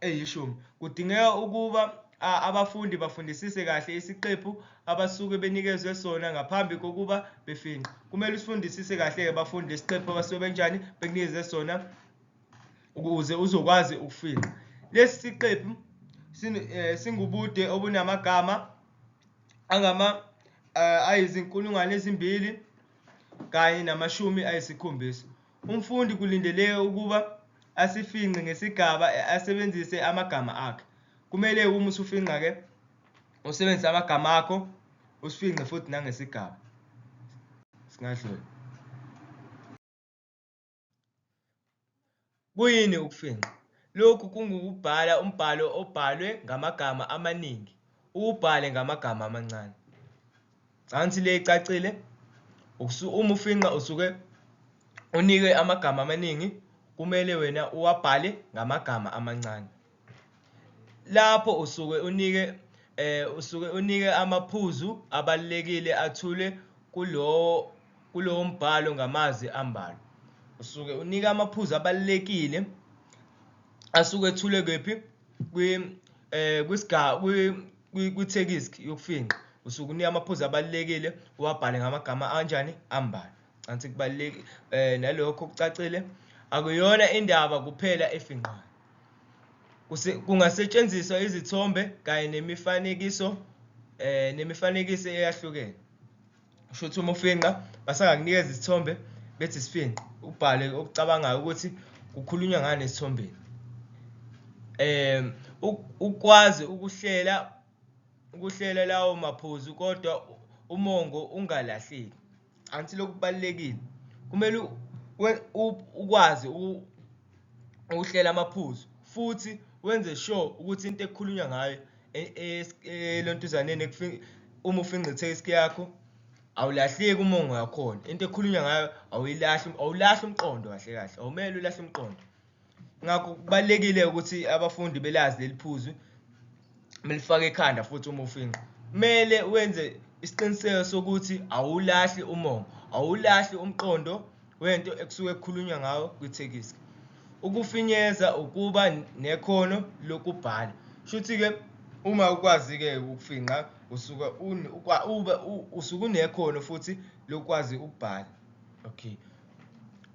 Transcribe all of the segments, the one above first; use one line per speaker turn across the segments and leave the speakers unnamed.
eyishumi. Kudingeka ukuba abafundi bafundisise kahle isiqephu abasuke benikezwe sona ngaphambi kokuba befingqe. Kumele usifundisise kahle-ke bafundi lesiqephu abasuke benjani bekunikeze sona ukuze uzokwazi ukufingqa. Lesi siqephu eh, singubude obunamagama angama eh, ayizinkulungwane ezimbili kanye namashumi ayisikhombisa. Umfundi kulindeleke ukuba asifingqe ngesigaba asebenzise amagama akhe. Kumele uma usufinqa-ke usebenzise amagama akho usifingqe futhi nangesigaba. Singadlula. Kuyini ukufinqa? Lokhu kungukubhala umbhalo obhalwe ngamagama amaningi, uwubhale ngamagama amancane. Angithi le icacile uma ufinqa usuke unike amagama amaningi kumele wena uwabhale ngamagama amancane. Lapho usuke unike eh usuke unike amaphuzu abalekile athule kulowo kulowo mbhalo ngamazwi ambalwa. Usuke unike amaphuzu abalekile asuke ethule kephi kwi eh kwisga kwi-tekisk yokufinqa usuke unika amaphuzu abalulekile uwabhale ngamagama anjani ambalwa cansi kubalulekile eh nalokho kucacile akuyona indaba kuphela efinqayo kungasetshenziswa izithombe kanye nemifanekiso eh nemifanekiso eyahlukene kusho ukuthi uma ufinqa basangakunikeza isithombe bethi sifinqe ubhale okucabangayo ukuthi kukhulunywa ngani esithombeni um ukwazi ukuhlela ukuhlela lawo maphuzu kodwa umongo ungalahleki angithi lokhu kubalulekile kumele ukwazi ukuhlela amaphuzu futhi wenze sure ukuthi into ekukhulunywa ngayo e-, e-, elontuzaneni uma ufingqithe iski yakho awulahleki uma ungakhona into ekhulunywa ngayo awuyilahli awulahli umqondo kahle kahle awumele ulahle umqondo ngakho kubalekile ukuthi abafundi belazi leliphuzu melifaka ekhanda futhi uma ufinqa kumele wenze isiqiniseko sokuthi awulahli umongo awulahli umqondo wento ekusuke kukhulunywa ngawo kwithekiski ukufinyeza ukuba nekhono lokubhala shuthi-ke uma ukwazi-ke ukufinqa usuke ube usuke unekhono futhi lokwazi ukubhala okay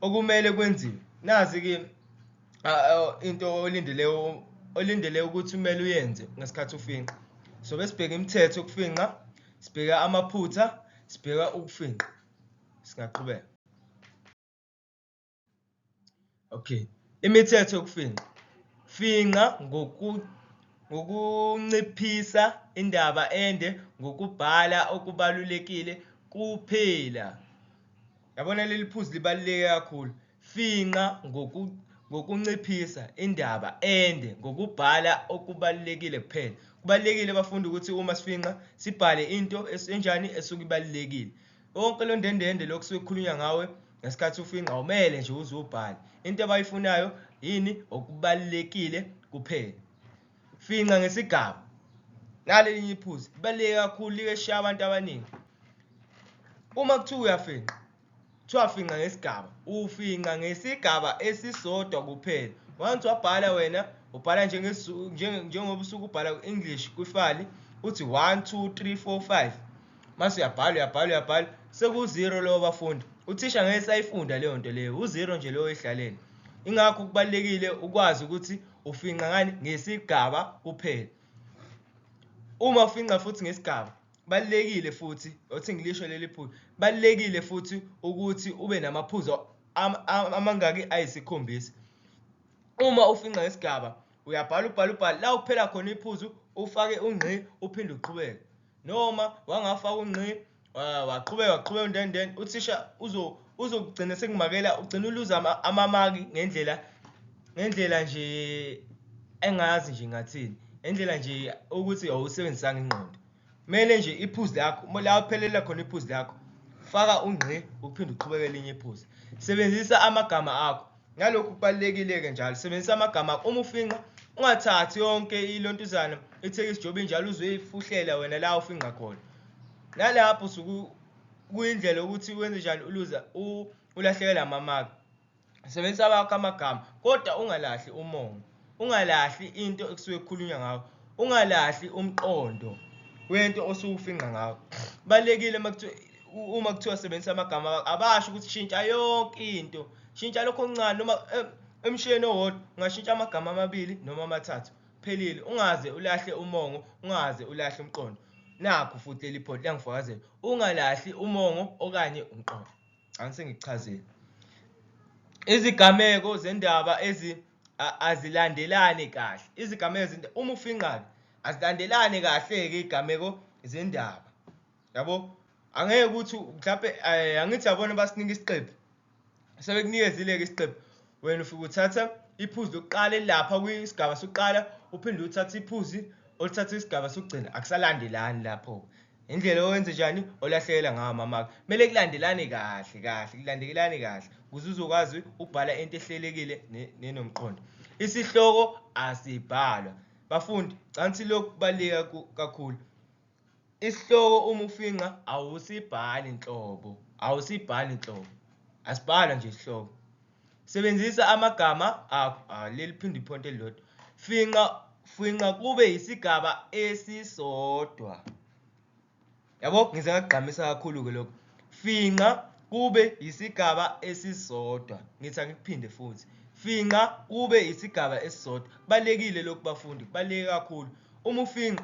okumele kwenziwe nazi-ke into olindele olindele ukuthi kumele uyenze ngesikhathi ufinqa sobe sibheke imithetho yokufinqa sibheka amaphutha sibheka ukufinqa singaqhubeka okay imithetho yokufingqa fingqa ngoku ngokunciphisa indaba ende ngokubhala okubalulekile kuphela yabona leli phuzi libaluleke kakhulu Fingqa ngokunciphisa indaba ende ngokubhala okubalulekile kuphela. Kubalulekile bafundi ukuthi uma sifingqa sibhale into enjani esuke ibalulekile. Wonke lo ndendende lokhu kusuke kukhulunywa ngawe ngesikhathi ufingqa awumele nje uze ubhale. Into abayifunayo yini? Okubalulekile kuphela. Fingqa ngesigaba. Nale linye iphuzi libaluleke kakhulu, like shaya abantu abaningi. Uma kuthiwa uyafingqa, Kuthiwa afinqa ngesigaba. Ufinqa ngesigaba esisodwa kuphela. Once wabhala wena ubhala njengoba usuke ubhala ku-English kwifali uthi 1 2 3 4 5 mase uyabhala uyabhala uyabhala sekuwuzero lowo bafundi uthisha ngeke sayifunda leyo nto leyo uzero nje lowo oyidlalele ingakho kubalulekile ukwazi ukuthi ufinqa ngani ngesigaba kuphela uma ufinqa futhi ngesigaba balekile futhi othi ngilisho leli phuzu balekile futhi ukuthi ube namaphuzu amangaki ayisikhombisa uma ufinqa isigaba uyabhala ubhala ubhala la uphela khona iphuzu ufake ungqi uphinde uqhubeke noma wangafaka ungqi ah, waqhubeka waqhubeka undenden uthisha uzo uzokugcina sekumakela ugcina uluza amamaki ngendlela ngendlela nje engazi nje ngathini ngendlela nje ukuthi awusebenzisanga ingqondo kumele nje iphuzi lakho la uphelela khona iphuzi lakho faka ungqi uphinde uqhubeke elinye iphuzi sebenzisa amagama akho nalokhu kubalulekile-ke njalo sebenzisa amagama akho uma ufinqa ungathathi yonke ilontuzana ithekisi jobe njalo uzoyifuhlela wena la ufinqa khona nalapho suku kuyindlela yokuthi wenze njani uluza ulahlekelwe amamaki sebenzisa wakho amagama kodwa ungalahli umongo ungalahli into ekusuke kukhulunywa ngawo ungalahli umqondo wento osuwufinqa ngawo balekile uma kuthiwa sebenzisa amagama abasho ukuthi shintsha yonke into shintsha lokho okuncane noma eh, emshiyeni owodwa ungashintsha amagama amabili noma amathathu phelile ungaze ulahle umongo ungaze ulahle umqondo Nakhu futhi leli photi liyangifakazela. Ungalahli umongo okanye umqondo. Ngani sengikuchazile. Izigameko zendaba ezi azilandelani kahle. Izigameko zendaba uma ufinqabe azilandelani kahle ke izigameko zendaba. Yabo? Angeke ukuthi mhlawumbe eh, angithi yabona basinika isiqephu sebekunikezile-ke isiqephu wena ufike uthatha iphuzi lokuqala elilapha kwisigaba sokuqala uphinde uthathe iphuzi oluthatha isigaba sokugcina akusalandelani lapho indlela owenze njani olahlekela ngawo mamaka kumele kulandelane kahle kahle kulandelane kahle ukuze uzokwazi ukubhala into ehlelekile nenomqondo isihloko asibhalwa bafundi cansi lokhu kubaluleke kakhulu Isihloko uma ufingqa awusibhali nhlobo, awusibhali nhlobo, asibhalwa nje isihloko. Sebenzisa amagama akho, ah, leli phinde iphonto elilodwa. Finqa, finqa kube yisigaba esisodwa. Yabo, ngize ngakugqamisa kakhulu-ke lokho. Finqa kube yisigaba esisodwa. Ngithi angikuphinde futhi. Finqa kube yisigaba esisodwa. Kubalulekile lokhu bafundi, kubaluleke kakhulu. Uma ufinqa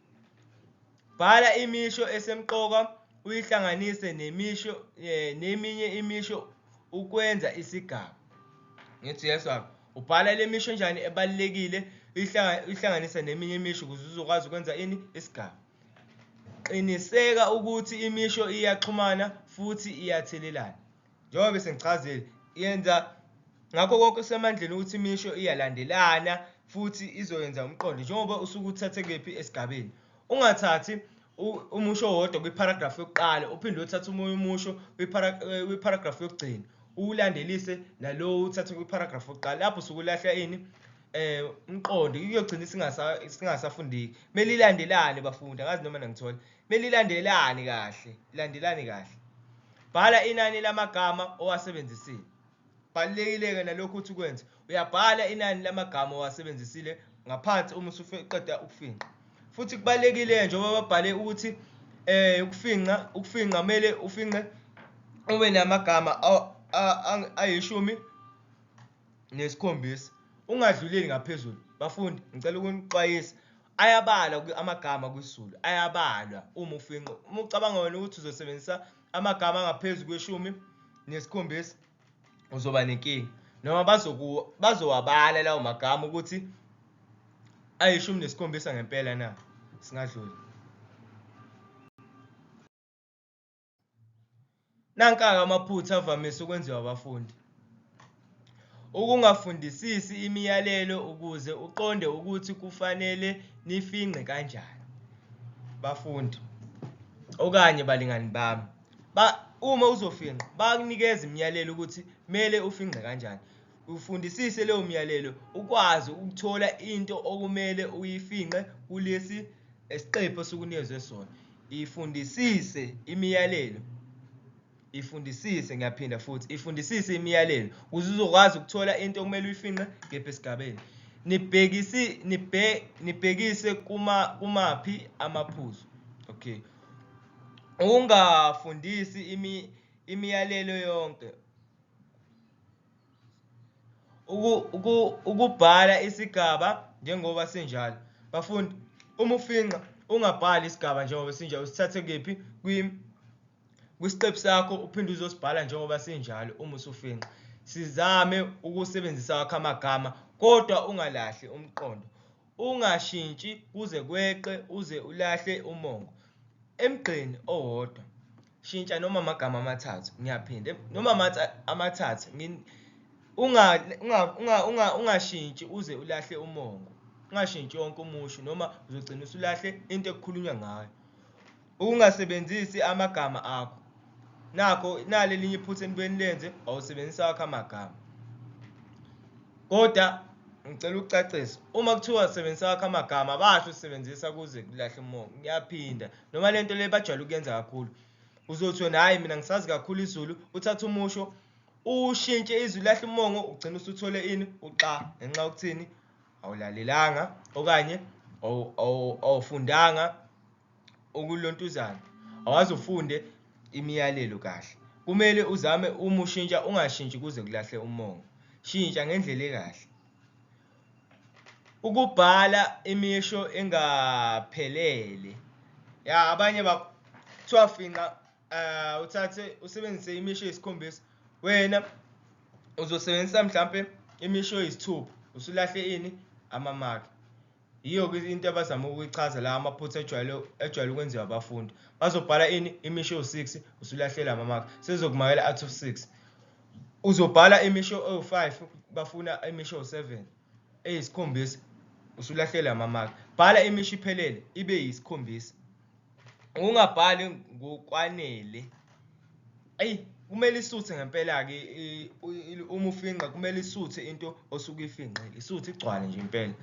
Bhala imisho esemqoka uyihlanganise nemisho eh, neminye imisho ukwenza isigaba. Ngithi yeswami ubhala le misho njani ebalulekile uyihlanganise neminye imisho ukuze uzokwazi ukwenza ini isigaba. Qiniseka ukuthi imisho iyaxhumana futhi iyathelelana. njengoba bese ngichazile yenza ngakho konke kusemandleni ukuthi imisho iyalandelana futhi izoyenza umqondo njengoba usuke uthathe kephi esigabeni ungathathi umusho wodwa kwiparagraph yokuqala uphinde uthathe umunye umusho eh, kwiparagraph yokugcina uwulandelise nalowo uthathe kwiparagraph yokuqala lapho sukulahla ini eh umqondo kuyogcina singasafundeki kumele ilandelane bafundi angazi noma nangithola Belilandelani kahle, landelani kahle. Bhala inani lamagama owasebenzisile. Balulekile-ke nalokhu ukuthi ukwenze. Uyabhala inani lamagama owasebenzisile ngaphansi uma usuqeda ukufinqa. Futhi kubalulekile-ke njengoba babhale ukuthi um ukufinqa ukufinqa kumele ufinqe ube namagama ayishumi nesikhombisa ungadluleli ngaphezulu bafundi ngicela ukunixwayisa Ayabalwa kwi amagama kwisiZulu, ayabalwa uma ufingqa. Uma ucabanga wena ukuthi uzosebenzisa amagama angaphezu kweshumi nesikhombisa uzoba nenkinga noma bazowabala lawo magama ukuthi ayishumi nesikhombisa ngempela na singadluli Nankaka amaphutha avamise ukwenziwa abafundi. Ukungafundisisi imiyalelo ukuze uqonde ukuthi kufanele nifingqe kanjani. Bafundi okanye balingani bami ba uma uzofinqa bakunikeza imiyalelo ukuthi kumele ufingqe kanjani. Ufundisise leyo myalelo ukwazi ukuthola into okumele uyifinqe kulesi esiqephu esukunikezwe sona. Ifundisise imiyalelo. Ifundisise ngiyaphinda futhi ifundisise imiyalelo ukuze uzokwazi ukuthola into okumele uyifinqe kephi esigabeni. Nibhekisi nibhe nibhekise kuma kumaphi amaphuzu. Okay. Ungafundisi imi imiyalelo yonke ukubhala isigaba njengoba sinjalo bafundi uma ufinqa ungabhali isigaba njengoba sinjalo usithathe kephi kwisiqephu sakho uphinde uzosibhala njengoba sinjalo uma usufinqa sizame ukusebenzisa wakho amagama kodwa ungalahli umqondo ungashintshi kuze kweqe uze ulahle umongo emgqeni owodwa shintsha noma amagama amathathu ngiyaphinda noma amathathu ungashintshi uze ulahle umongo ungashintshi wonke umusho noma uzogcina usulahle into ekukhulunywa ngayo ukungasebenzisi amagama akho nakho nale linye iphutha enibeni lenze wawusebenzisa wakho amagama kodwa ngicela ukucacisa uma kuthiwa sebenzisa wakho amagama basho usebenzisa kuze kulahle umongo ngiyaphinda noma le nto le bajwayele ukuyenza kakhulu uzothi wena hhayi mina ngisazi kakhulu izulu uthatha umusho ushintshe izwi lahle umongo ugcina usuthole ini uxa ngenxa yokuthini awulalelanga okanye awufundanga ukulontuzana awazi ufunde imiyalelo kahle kumele uzame uma ushintsha ungashintshi kuze kulahle umongo shintsha ngendlela ekahle Ukubhala imisho engaphelele. Ya abanye ba kuthiwa finqa eh uthathe usebenzise imisho eyisikhombisa. Wena uzosebenzisa mhlambe imisho eyisithupha usulahle ini amamaki. Yiyo ke into abazama ukuyichaza la amaphutha ejwayele ejwayele ukwenziwa abafundi. Bazobhala ini imisho ewu6 usulahlela amamaki. Sezokumakela athi u6. uzobhala imisho ewu-5 bafuna imisho ewu-7 eyisikhombisa usulahlela amamaki bhala imisho iphelele ibe yisikhombisa ungabhali ngokwanele eyi kumele isuthe ngempela-ke uma ufinqa kumele isuthe into osuke ifinqile isuthe igcwale nje impela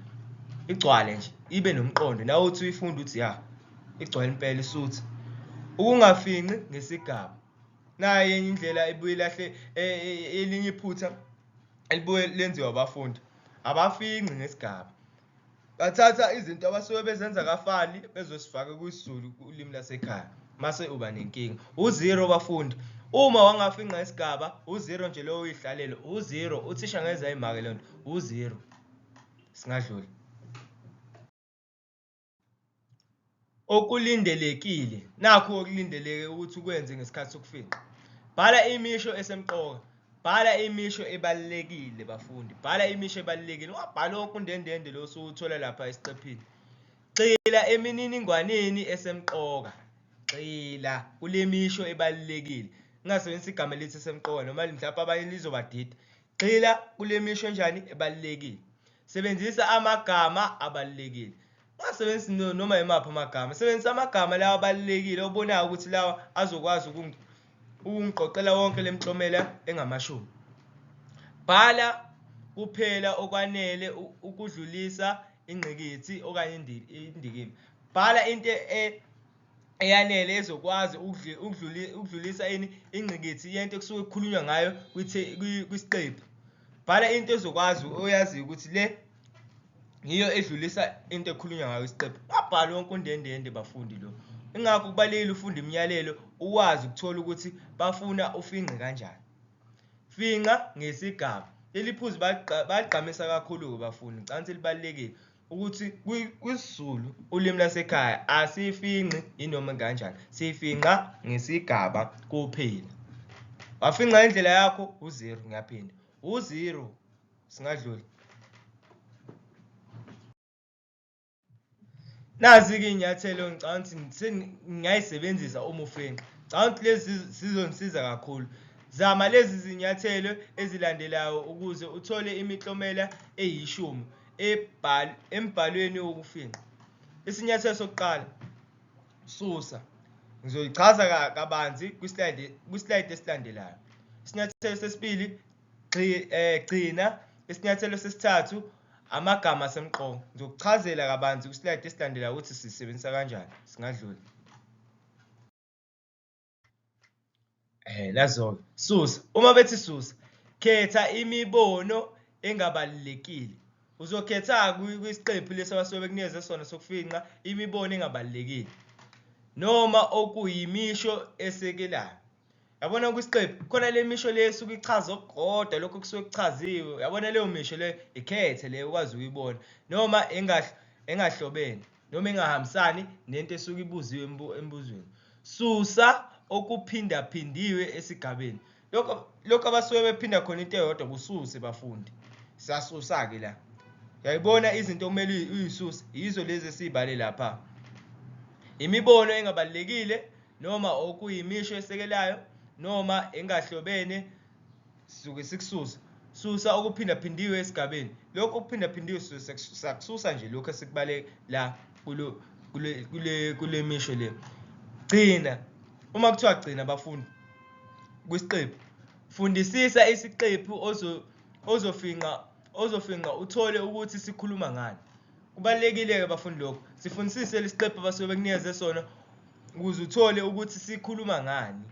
igcwale nje ibe nomqondo nawe uthi uyifunde uthi ya igcwale impela isuthe ukungafinqi ngesigaba naye enye indlela ebuye lahle e, e, elinye iphutha elibuye lenziwa abafundi abafinqi ngesigaba bathatha izinto abasuke bezenza kafani bezosifaka kwisizulu ulimi lasekhaya mase uba nenkinga uzero bafundi uma wangafinqa isigaba uzero nje lowo uyihlalele uzero uthisha ngeza imake lento uzero singadluli Okulindelekile, nakhu okulindeleke ukuthi ukwenze ngesikhathi sokufingqa. Bhala imisho esemqoka. Bhala imisho ebalulekile bafundi. Bhala imisho ebalulekile. Ungabhali wonke undendende lo usuwuthola lapha esiqephini. Gxila emininingwaneni esemqoka. Gxila kule misho ebalulekile. Ngingasebenzisa igama elithi esemqoka noma mhlawumbe abanye lizobadida. Gxila kule misho enjani ebalulekile. Sebenzisa amagama abalulekile. Ungasebenzisi noma yimaphi amagama. Sebenzisa amagama lawa abalulekile obonayo ukuthi lawa azokwazi ukungiqoqela wonke le mklomela engamashumi. Bhala kuphela okwanele ukudlulisa ingqikithi okanye indikimba. Bhala into e eyanele ezokwazi ukudlulisa ini ingqikithi yento ekusuke kukhulunywa ngayo kwisiqephu bhala into ezokwazi oyaziyo ukuthi le yiyo edlulisa into ekhulunywa ngayo isiqephu kwabhala wonke undendende bafundi lo ingakho kubalulekile ufunda imiyalelo uwazi ukuthola ukuthi bafuna ufingqe kanjani finqa ngesigaba leli phuzu bagqamisa kakhulu-ke bafundi ngicabanga ukuthi libalulekile ukuthi kwisiZulu ulimi lasekhaya asiyifinqi inoma kanjani siyifinqa ngesigaba kuphela wafinqa indlela yakho uzero ngiyaphinda uzero singadluli nazi-ke iy'nyathelo ngicabanga ukuthi sengingayisebenzisa uma ufinqa ngicabanga ukuthi lezi sizongisiza kakhulu zama lezi zinyathelo ezilandelayo ukuze uthole imiklomela eyishumi embhalweni wokufingqa isinyathelo sokuqala susa ngizoyichaza kabanzi kwislide kwislide esilandelayo isinyathelo sesibili eh, gcina isinyathelo sesithathu amagama asemqoka ngizokuchazela kabanzi kwislide esilandelayo ukuthi sisebenzisa kanjani singadlula Eh nazo susa uma bethi susa khetha imibono engabalulekile uzokhetha kwisiqephu lesi abasuke bekunikeze sona sokufinqa imibono engabalulekile noma okuyimisho esekelayo yabona kwisiqephu khona le misho le esuke ichaza okukodwa lokho kusuke kuchaziwe yabona leyo misho le ikhethe le ukwazi ukuyibona noma engahlobene noma engahambisani nento esuke ibuziwe embuzweni susa okuphindaphindiwe esigabeni lokho lokho abasuke bephinda khona into eyodwa kususe bafundi siyasusa-ke la yayibona izinto okumele uyisuse yizo lezi esiyibale lapha imibono engabalulekile noma okuyimisho esekelayo noma engahlobene sisuke sikususa susa okuphindaphindiwe esigabeni lokhu okuphindaphindiwe sakususa nje lokhu esikubale la kulo kule kule kule misho le gcina uma kuthiwa gcina abafundi kwisiqephu fundisisa isiqephu ozo ozofinqa ozofinqa uthole ukuthi sikhuluma ngani kubalulekile-ke bafundi lokho sifundisise lesiqephu abasuke bekunikeze sona ukuze uthole ukuthi sikhuluma ngani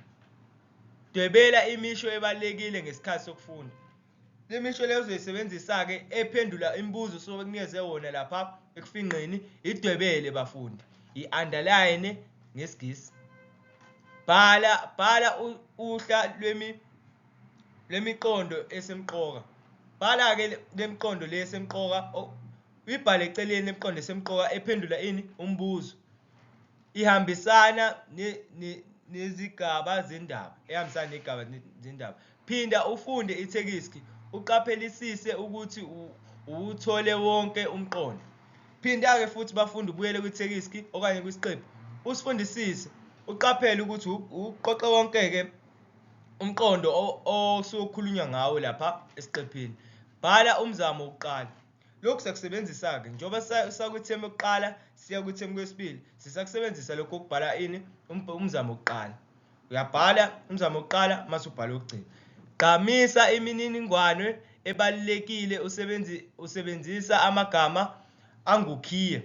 Dwebela imisho ebalulekile ngesikhathi sokufunda. Le misho leyo uzoyisebenzisa-ke ephendula imibuzo osuke bekunikeze wona lapha ekufingqeni idwebele bafundi i-underline ngesigisi bhala bhala uhla lwemi lwemiqondo esemqoka bhala-ke lemiqondo le esemqoka uyibhale eceleni lemiqondo esemqoka ephendula ini umbuzo ihambisana nezigaba zendaba ehambisana negaba zendaba phinda ufunde ithekiski uqaphelisise ukuthi uwuthole wonke umqondo phinda-ke futhi bafunde ubuyele kwithekiski okanye kwisiqephu usifundisise uqaphele ukuthi uqoqe wonke-ke umqondo osukhulunywa ngawo lapha esiqephini bhala umzamo wokuqala Lokhu siyakusebenzisa-ke njengoba sakwithemu yokuqala siya kwithemu kwesibili, sisakusebenzisa lokhu ukubhala ini umzamo wokuqala. Uyabhala umzamo wokuqala mase ubhala okugcina. Gqamisa imininingwane ebalulekile usebenzi usebenzisa amagama angukhiye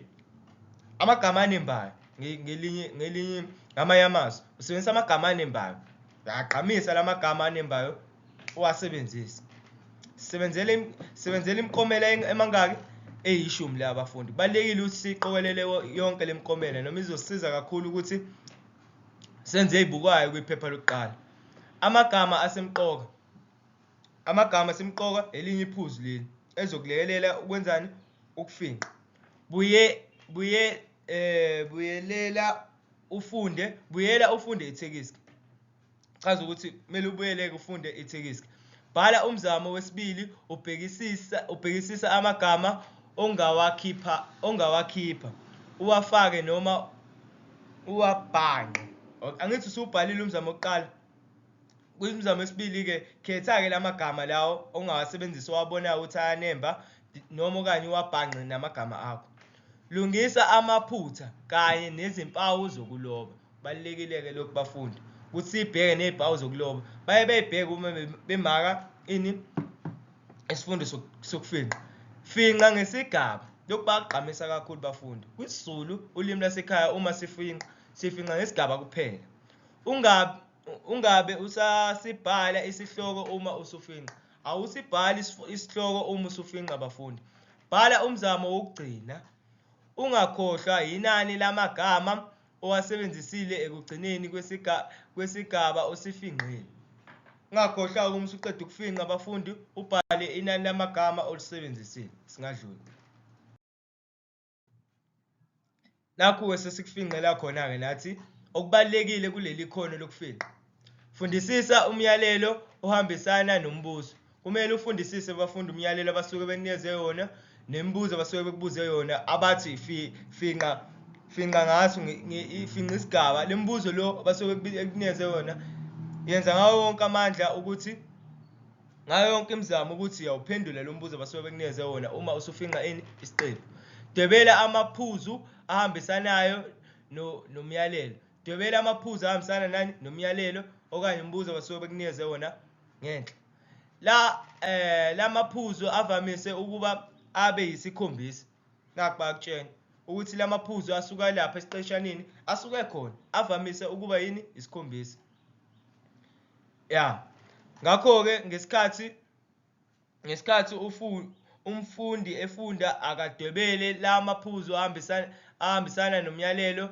amagama anembayo ngelinye ngelinye ngamanye amazwi usebenzisa amagama anembayo uyagqamisa lamagama anembayo uwasebenzise sebenzele sebenzele imikomela emangaki eyishumi le abafundi kubalekile ukuthi siqokelele yonke le mikomela noma izosiza kakhulu ukuthi senze ibukayo kwiphepha lokuqala amagama asemqoka amagama asemqoka elinye iphuzu leli ezokulekelela ukwenzani ukufinqa buye buye eh buyelela ufunde buyela ufunde ithekisi chaza ukuthi kumele ubuyeleke ufunde ithikiski bhala umzamo wesibili ubhekisisa ubhekisisa amagama ongawakhipha ongawakhipha uwafake noma uwabhanqe angithi usubhalile umzamo wokuqala kuyimizamo esibili-ke khetha-ke la magama lawo ongawasebenzisa owabonayo ukuthi ayanemba noma okanye uwabhangqe namagama akho lungisa amaphutha kanye nezimpawu zokuloba kubalulekile-ke lokhu bafundi ukuthi siyibheke ney'mpawu zokuloba baye beyibheke uma bemaka ini isifundo sokufinqa finqa ngesigaba lokhu bakugqamisa kakhulu bafundi kwisizulu ulimi lasekhaya uma sifinqa sifinqa ngesigaba kuphela ungabe ungabe usasibhala isihloko uma usufinqa Awusibhali isif- isihloko uma usufinqa abafundi. Bhala umzamo wokugcina. Ungakhohlwa yinani lamagama owasebenzisile ekugcineni kwesiga, kwesigaba osifinqile. Ungakhohlwa uma usuqeda ukufinqa abafundi ubhale inani lamagama olisebenzisile. Singadluli. nakhu-ke sesikufingqela khona-ke nathi okubalulekile kuleli khono lokufingqa fundisisa umyalelo ohambisana nombuzo kumele ufundisise abafundi umyalelo abasuke benikeze yona nemibuzo abasuke bekubuze yona abathi finqa finqa ngaso finqa isigaba le mibuzo lo abasuke bekunikeze yona yenza ngawo wonke amandla ukuthi ngayo yonke imizamo ukuthi uyawuphendula lo mbuzo abasuke bekunikeze wona uma usufinqa ini isiqephu dwebela amaphuzu ahambisanayo nomyalelo dwebela amaphuzu ahambisana nani nomyalelo okanye umbuzo abasuke bekunikeze wona ngenhla la eh lamaphuzu avamise ukuba abe yisikhombisa nakba kutshena ukuthi lamaphuzu asuka lapha esiqeshanini asuke khona avamise ukuba yini isikhombisa ya ngakho-ke ngesikhathi ngesikhathi umfundi efunda akadwebele la maphuzu ahambisana nomyalelo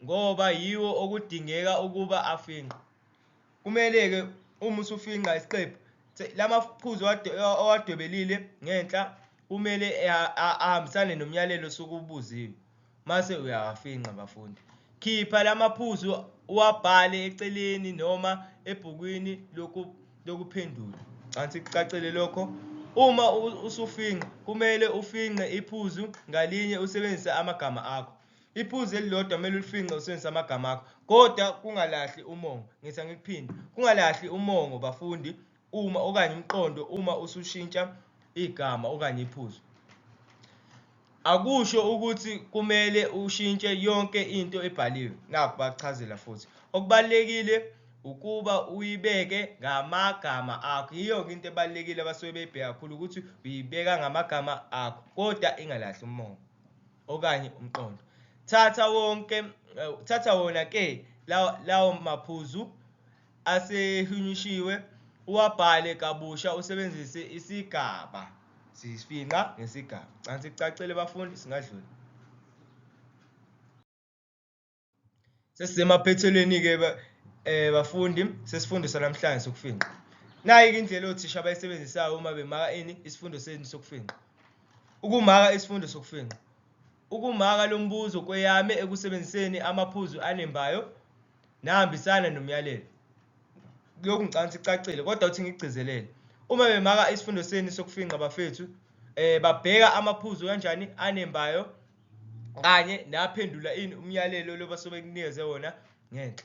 ngoba yiwo okudingeka ukuba afingqwe kumele-ke uma usufinqa isiqephu la maphuzu owadwebelile ngenhla kumele ahambisane nomyalelo osuke ubuziwe mase uyawafinqa bafundi. Khipha lamaphuzu uwabhale eceleni noma ebhukwini lokuphendula. Cansi kucacele lokho. Uma usufinqa kumele ufinqe iphuzu ngalinye usebenzise amagama akho. Iphuzu elilodwa kumele ulifinqe usebenzise amagama akho kodwa kungalahli umongo. Ngitha ngikuphinde, kungalahli umongo bafundi uma okanye umqondo uma usushintsha igama okanye iphuzu akusho ukuthi kumele ushintshe yonke into ebhaliwe nakho bakuchazela futhi okubalekile ukuba uyibeke ngamagama akho yiyo ke into ebalekile abasuke beyibheka kakhulu ukuthi uyibeka ngamagama akho kodwa ingalahli umongo okanye umqondo thatha wonke eh, thatha wona ke lawo maphuzu asehunyushiwe uwabhale kabusha usebenzise isigaba sifinqa ngesigaba cansi kucacile bafundi singadlula sesisemaphethelweni-ke um eh, bafundi sesifundo sanamhlanje sokufinqa nayi-ke indlela othisha abayisebenzisayo uma bemaka ini isifundo senu sokufinqa ukumaka isifundo sokufinqa ukumaka lo mbuzo kweyame ekusebenziseni amaphuzu anembayo nahambisana nomyalelo lokhu ngicabanga ukuthi icacile kodwa uthi ngigcizelele uma bemaka isifundo senu sokufinqa bafethu eh babheka amaphuzu kanjani anembayo kanye naphendula ini umyalelo loba sobe kunikeze wona ngenhla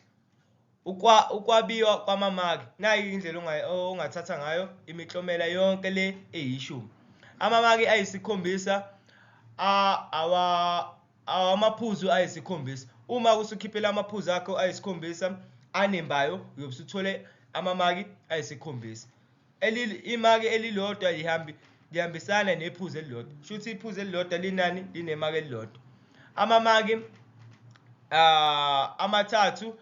ukwa ukwabiwa kwamamaki nayi indlela ongathatha ngayo imiklomela yonke le eyishumi amamaki ayisikhombisa awa Awu, amaphuzu ayisikhombisa. Uma usukhiphela amaphuzu akho ayisikhombisa anembayo uyobe usuthole amamaki ayisikhombisa. Imaki elilodwa lihambi lihambisana nephuzu elilodwa shuthi iphuzu elilodwa linani linemaki elilodwa amamaki uh, amathathu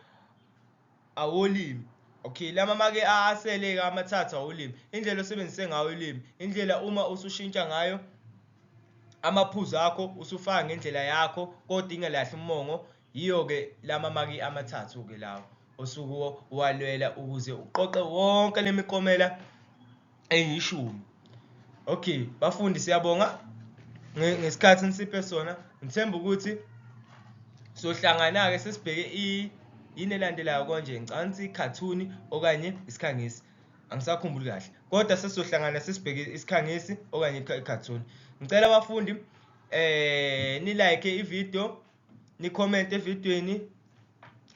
awolimi okay lama make aseleke amathathu awolimi indlela osebenzise ngayo ulimi indlela uma usushintsha ngayo amaphuzu akho usufaka ngendlela yakho kodwa ingelahli umongo yiyo-ke lama maki amathathu-ke lawo osuke walwela ukuze uqoqe wonke le mikomela eyishumi okay bafundi siyabonga ngesikhathi nisiphe sona ngithemba ukuthi sohlangana-ke sesibheke yini elandelayo konje ngicansi cartoon okanye isikhangisi angisakhumbuli kahle kodwa sesizohlangana sesibheke isikhangisi okanye i-cartoon ngicela abafundi eh nilike ivideo ni comment evidweni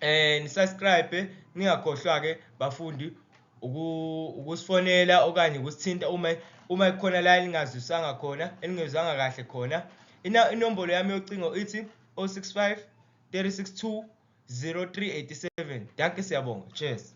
eh ni subscribe ningakhohlwa ke bafundi ukusifonela okanye ukusithinta uma uma kukhona la elingazwisanga khona elingezwanga kahle khona inombolo yami yocingo ithi 065 362 0387 danke siyabonga cheers